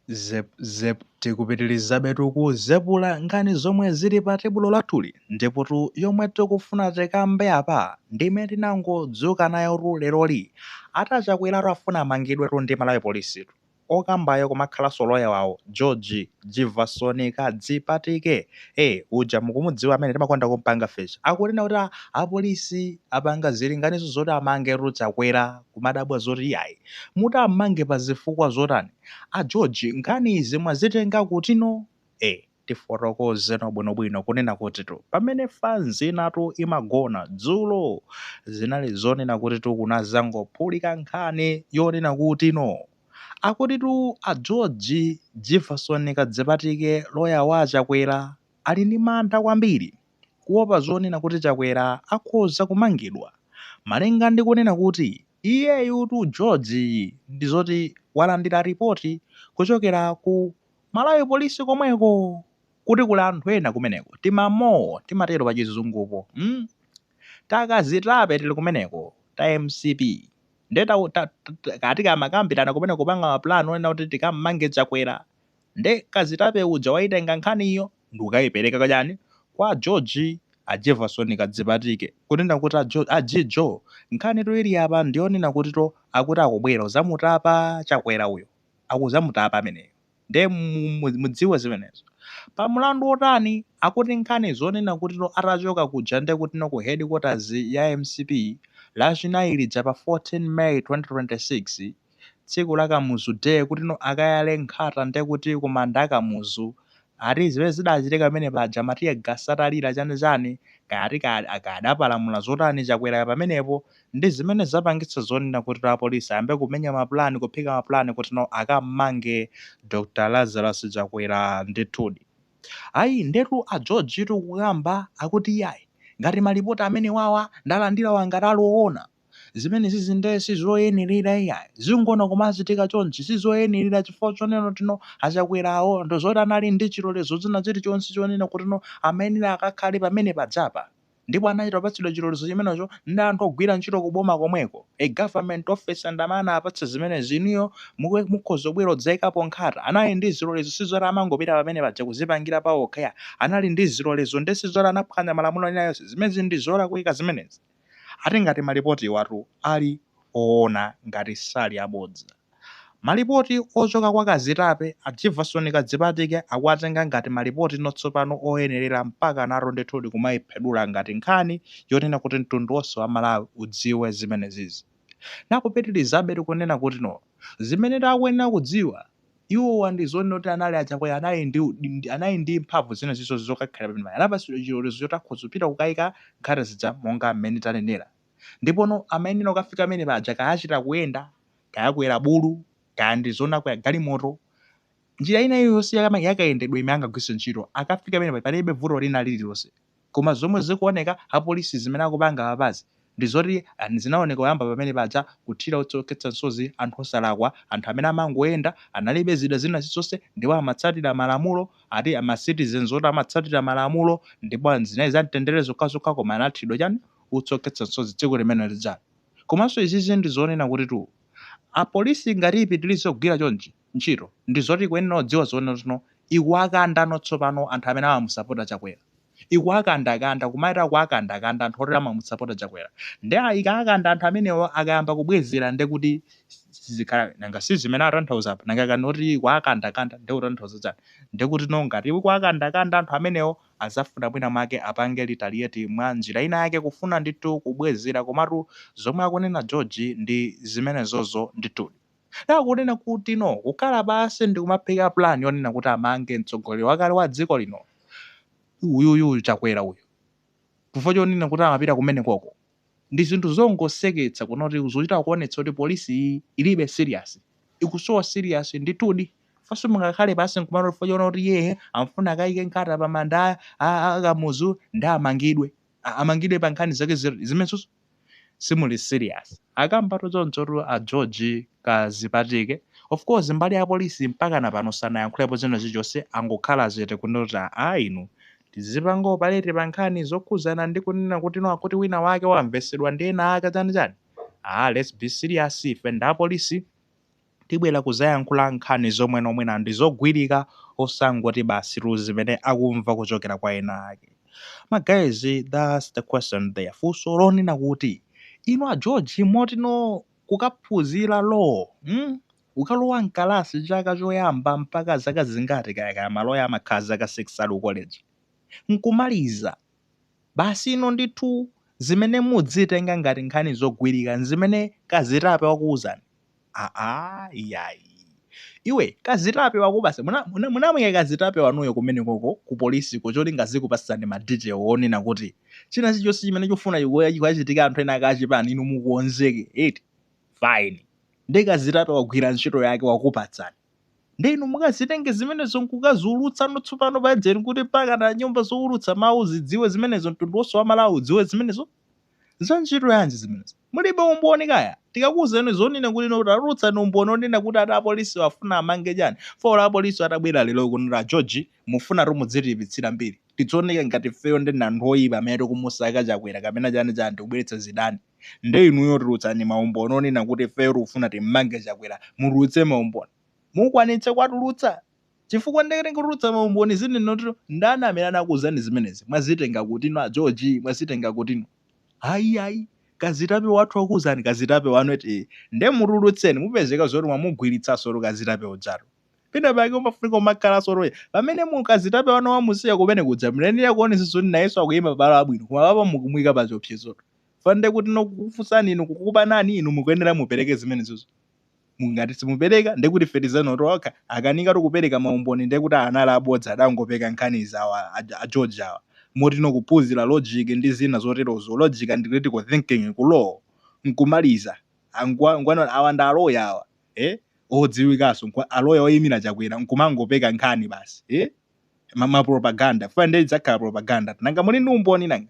Zep Zep Tikupitilizabetu kuzepula nkhani zomwe zili pa tebulo lathuli ndipotu yomwe tikufuna tikambe apa ndi imene tinangodzuka nayotu leroli ati a Chakweratu afuna amangidwetu ndi Malawi Policetu okambayo kumakhalanso loya wawo George Jivason Kadzipatike eh uja mukumudziwa amene timakonda kumpanga feature akunena kuti apolisi apanga zilinganizo zoti amangetu Chakwera kumadabwa zoti iyayi Muti ammange pa zifukwa zotani? A George nkhani izi mwazitenga kutino? E. Tifotokozeno bwinobwino kunena kutitu pamene fanzi inatu imagona dzulo zinali zonena kutitu kunazangophulika nkhani yonena kutino akutitu a George Jivason Kadzipatike loya wa a Chakwera ali ndi mantha kwambiri. kuopa zonena kuti Chakwera akhoza kumangidwa malinga ndi kunena kuti iyeyutu George ndi zoti walandira ripoti kuchokera ku Malawi Police komweko kuti kuli anthu ena kumeneko, timamole timatero pa chizungupo, mm ta kazitape tili kumeneko ta mcp nde ta ta takamakambirana kumeneko kupanga ma plan onena kuti tikam'mange Chakwera nde kazitape uja waitenga nkhaniyo. ndikukaipereka kwa ndani kwa a George a Jivason Kadzipatike kunena kuti a George a George nkhanitu ili apa ndiyonena kutitu akuti akubwera kuzamutapa Chakwera uyo akuzamutapa ameneyo nde mudziwe zimenezo pa mlandu otani akuti nkhani zonena kutitu atachoka kuja nde kutino ku headquarters ya mcp lachinayi lija pa 14 May 2026 tsiku la Kamuzu day kutino akayale nkhata nde kuti kumanda kwa Kamuzu. Ati zimene zidachitika pamene paja ma tear gas atalira chani chani kaya ati kaya, kaya adapalamula zotani Chakwerayo pamenepo ndi zimene zapangitsa zonena kutino apolisi ayambe kumenya ma plan, kuphika ma plan kutino akammange Dr Lazarus Chakwera. Ndithudi. Ayi, ndetu a Georgetu kukamba akuti iyayi, ngati malipoti amenewawa ndalandirawa ngati ali owona, Zimenezizi nde sizoyenelera iyayi. Zinthu kumachitika chonchi sizoyenelera chifukwa chonena kutino a Chakwerawo ndi zoti anali ndi chilolezo china chilichonse chonena kutino amayenera akakhale pamene pajapa. Ndipo anachita kupatsidwa chilolezo chimenecho ndi anthu ogwira ntchito ku boma komweko, a government officer ndi amene anawapatsa zimenezi. Inuyo mukhoza kubwera kudzayikapo nkhata. Anali ndi zilolezo sizoti amangopita pamene paja kuzipangira paokha iyayi. Anali ndi zilolezo nde sizoti anaphwanya malamulo ena alionse. Zimenezi ndi zolakwika zimenezi. Ati ngati malipotiwatu ali oona ngati sali abodza. Malipoti ochoka kwa akazitape a Jivason Kadzipatike akuwatenga ngati malipotino tsopano oyenerera mpakanatu ndithudi kumaiphedura ngati nkhani yonena kuti mtundu wonse wa Malawi udziwe zimenezizi. Nakupitilizabe kunena kutino zimenetu akuyenera kudziwa Iwowa ndi zooneka kuti anali a Chakwera anali ndi mphamvu zina zilizonse zokakhalira pamene paja. Anapatsidwa chilolezo choti akhoza kupita kukayika nkhata zija monga mmene tanenera. Ndipono amayenera kukafika pamene paja kaya achita kuyenda, kaya akwera bulu, kaya ndi zoona akwera galimoto. Njira ina iliyonse ya yakayendedwe imene angagwiritse ntchito akafika pamene paja palibe vuto lina lililonse. Koma zomwe zikuoneka apolisi zimene akupanga apapazi ndi zoti zinaoneka kuyamba pamene paja kuthira utsi okhetsa msozi anthu osalakwa, anthu amene amangoyenda, analibe zida zina zilizonse ndipo amatsatira malamulo, ati ma citizens oti amatsatira malamulo ndipo zinali za mtendere zokhazokha koma anathiridwa chani, utsi okhetsa msozi tsiku limene lijali. Komanso izizi ndi zonena kutitu apolisi ngati ipitilize kugwira chonchi, ntchito ndizoti ikuyenera kudziwa zoti no ikuwakandano tsopano anthu amene amamusapota chakwera ikuwakandakanda kumaita kuwakandakanda anthu oti amamusapota chakwera nde ikawakanda anthu amenewo akayamba kubwezera ndekuti sizikhala nanga si zimene atanthauza apa nanga kani oti ikuwakandakanda nde kutanthauza chani ndekuti no ngati ikuwakandakanda anthu amenewo azafuna mwina mwake apange retaliate mwa njira ina yake kufuna ndithu kubwezera komatu zomwe akunena george ndi zimenezozo ndithudi. Nanga kunena kuti no kukhala pansi ndi kumaphika plan yonena kuti amange mtsogoleri wakale wa dziko lino uyuyu Chakwera uyu chifukwa chonena kuti amapita kumeneko ko ndi zinthu zongoseketsa kunena kuti zochita kuonetsa kuti polisi iyi ilibe serious ikusowa serious ndithudi faso mungakhale pansi nkumano chifukwa choona kuti iye amafuna akaike nkhata pa manda a, a, a Kamuzu ndi amangidwe A- amangidwe pa nkhani zake zi- zimenenso simuli serious akambatu chonchotu a George kazipatike of course mbali ya polisi mpakana pano sanayankhulepo china chilichonse angokhala chete kunena kuti aa inu tizingopanga operate pa nkhani zokhuzana ndi kunena kuti no akuti wina wake wamvesedwa ndi ena ake chani chani aa let's be serious ife ndi apolisi tibwera kuzayankhula nkhani zomwe no mwina ndi zogwirika osangoti basitu zimene akumva kuchokera kwa ena ake. Ma guys that's the question there funso lonena kuti inu a George moti no kukaphunzira law mm kukalowa mkalasi chaka choyamba mpaka zaka zingati kaya kaya maloya amakhala zaka 6 ali ku college nkumaliza basi ino ndithu zimene mudzitenga ngati nkhani zogwirika nzimene kazitape wakuuzani Aaa iyayi iwe kazitape wako basi munamuika muna, muna kazitape wanuyo kumeneko ko ku polisi ko cholinga azikupatsani ma detail onena kuti china chilichonse chimene chofuna kuchitika anthu ena ake achipani inu mukonzeke eti fine nde kazitape wagwira ntchito yake wakupatsani nde inu mukazitenge zimenezo nkukaziulutsa no tsopano pa dzeni kuti mpaka na nyumba zoulutsa mawu zidziwe zimenezo mtundu wonse wa aMalawi udziwe zimenezo Za ntchito yanji zimenezo? Mulibe umboni kaya? Tikakuuzani zonena kuti no tatulutsani umboni onena kuti eti apolisiwo afuna amange chani? Chifukwa olo apolisiwo atabwera lero kuno kuti a George mufunatu muzitiipitsira mbiri. Tizioneka ngati ifeyo nde ndi anthu oipa amene tikumusaka Chakwera kapena chani chani tikubweretsa zidani. Nde inuyo tulutsani maumboni onena kuti ifeyo tikufuna timmange Chakwera. Mutulutse maumboni. Mukwanitsa kuwatulutsa? Chifukwa nde kuti kutulutsa ma umboni zonena kuti ndani amene anakuuzani zimenezi? Mwazitenga kuti inu a George? Mwazitenga kuti inu? Ayi ayi kazitape wathu wakuuzani kazitape wanu eti nde mutulutseni mupezeka zoti mwamugwiritsansotu kazitape ujatu pena pake umafunika umakhalanso loya pamene mu kazitape wanu wamusiya kumene kuja mnayenera kuonetsetsa zoti nayenso akuyima pamalo abwino koma apapa mukumuyika pachiopsezotu chifukwa nde kti no kukufunsani inu kukupanani inu mukuyenera mupereke zimenezozo. Ngati simupereka ndekuti ife tizanotu, akakanikatu kupereka maumboni ndekuti anali abodza adangopeka nkhanizi awa a George awa, moti no kuphunzira logic ndi zina zoterozo, logic and critical thinking ku law nkumaliza, angwa ngwa no awa ndi a lawyer awa ee odziwikaso awa a lawyer oyimira Chakwera nkumangopeka nkhani basi ee ma ma propaganda chifukwa nde idzakhala propaganda nanga muli ndi umboni nanga?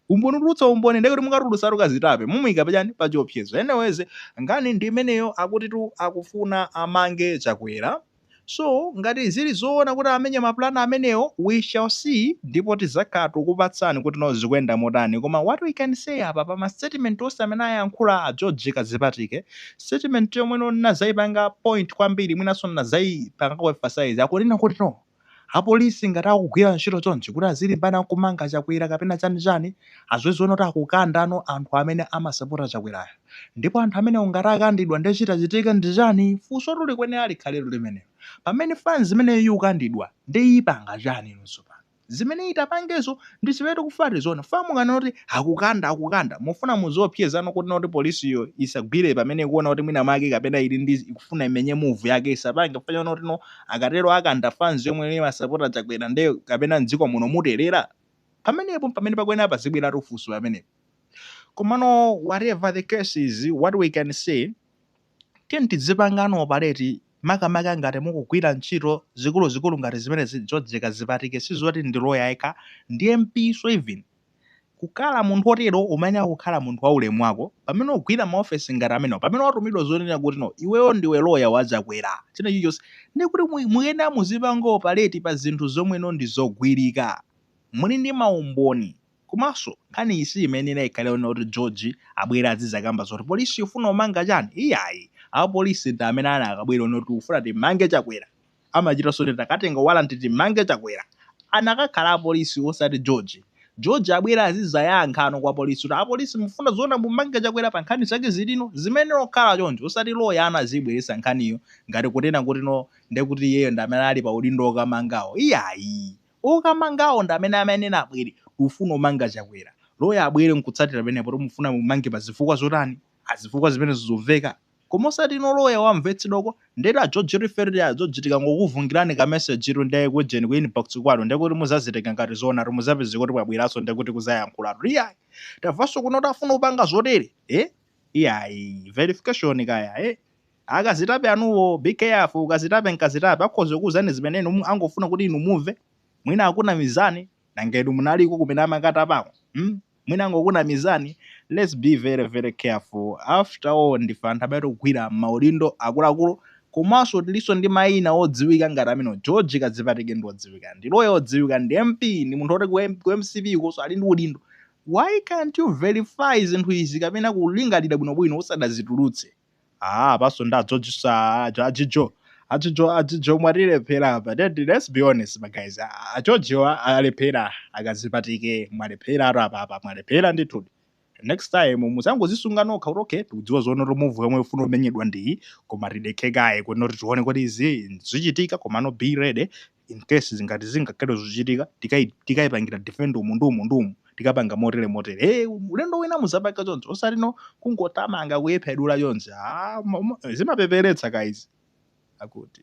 umboni utulutsa umboni ndekuti mukatulutsa tukazitape mumuika pachani pachiopsezo anyways nkhani ndiimeneyo akutitu akufuna amange chakwera so ngati zili zoona kuti amenye ma plan amenewo we shall see ndipo tizakhala tukupatsani kuti no zikuyenda motani koma what we can say apa pama statement onse amene ayankhula a george Kadzipatike statement yomwe no ndinazaipanga point kwambiri mwinaso ndinazaipangako emphasize akunena kuti no Apolisi ngati akugwira ntchito chonchi kuti azilimbana nkumanga Chakwera kapena chani chani aziziona kuti akukandano anthu amene amasapota Chakwerayo ndipo anthu amenewo ngati akandidwa nde chitachitike ndichani funsotu likuyenera likhaletu limenelo pamene fanz imeneyo yikukandidwa nde yipanga chani inu tsopano zimene yitapangezo ndizimene tikufuna tizione fam mukanena kuti akukanda akukanda mufuna muziopyezano kuti not polisiyo yisagwire pamene yikuona kuti mwina mwake kapena yili ndi ikufuna imenye move yake yisapange chifukwa choti no akatero akanda fans yomwe imasapota chakwera nde kapena mdziko muno muterera? pamenepo mpamene pakuyenera pazibweratu funso pamenepo komano whatever the case is what we can say tiyeni tidzipangano operate makamaka ngati mukugwira ntchito zikuluzikulu ngati zimenezi George Kadzipatike sizoti ndi loya yekha ndi MP so even Kukhala munthu otero umayenera kukhala munthu wa ulemu wako pamene ugwira ma ofesi ngati amenewa pamene watumidwa zonena kuti no iweyo ndiwe loya wa chakwera china chilichonse ndiye kuti mukuyenera muzipanga operate pa zinthu zomwe no ndi zogwirika muli ndi ma umboni komanso nkhani iyi siyimayenera ikhale onena kuti George abwere azizakamba zoti polisi ifuna umanga chani iyayi a polisi ndi amene anakabwera kunena kuti tikufuna timange chakwera amachita kuti takatenga warrant timange chakwera anakakhala apolisi osati George. George abwere azizayankha no kwa police kuti apolisi mufuna zoona mumange chakwera pa nkhani zake ziti? Zimayenera kukhala choncho osati lawyer aziibweretsa nkhaniyo ngati kunena kuti no ndekuti iyeyo ndi amene ali pa udindo okamangawo iyayi okamangawo ndi amene amayenera abwere tikufuna kumanga chakwera lawyer abwere nkutsatira pamenepo kuti mufuna mumange pa zifukwa zotani? Zifukwa zimenezo zomveka? Koma osati inu a lawyer mwamvetsedwa uko ndetu a George pafupi a George tikangokuvungirani ka message tu nde ku ujeni ku inbox kwanu ndekuti muzazitenga ngati zoonatu muzapezeka kuti mwabweraso ndekuti kuzayankhulatu iyayi tavaso kuno kuti afuna kupanga zotere eh iyayi verification kaya eh akazitape anuwo be careful akazitape nkazitape akhoza kukuuzani zimene inu mu- angofuna kuti inu mumve mwina akunamizani nanga inu munaliko kumene amakatapako mm? mwina angokunamizani let's be very very careful after all ndife anthu amene tikugwira maudindo akuluakulu komanso tilinso ndi maina odziwika ngati amenewo George Kadzipatike ndi odziwika ndi lawyer odziwika ndi MP ndi munthu oti ku, M- ku mcp konso ali ndi udindo why can't you verify zinthu izi kapena kulingalira bwinobwino usadazitulutse Aaa apanso nde a George aaa a Jijo a Jijo a Jijo mwatilephera apa let let's be honest ma guys a George mwalephera a Kadzipatike mwalepheratu apapa mwalephera ndithudi next time muzangozisunga nokha kuti okay tikudziwa zoona kuti move yomwe ifuna kumenyedwa ndiyi koma tidekhe kaye kuno kuti tione kuti izi zichitika komano be ready in case ngati zingakhale zochitika tikai tikaipangira defend umu ndi umu ndi umu tikapanga motere motere hey, ulendo wina muzapanga choncho osati no kungotamanga kuyiphedula choncho ah, mo- mo- zimapeperetsa kaizi akuti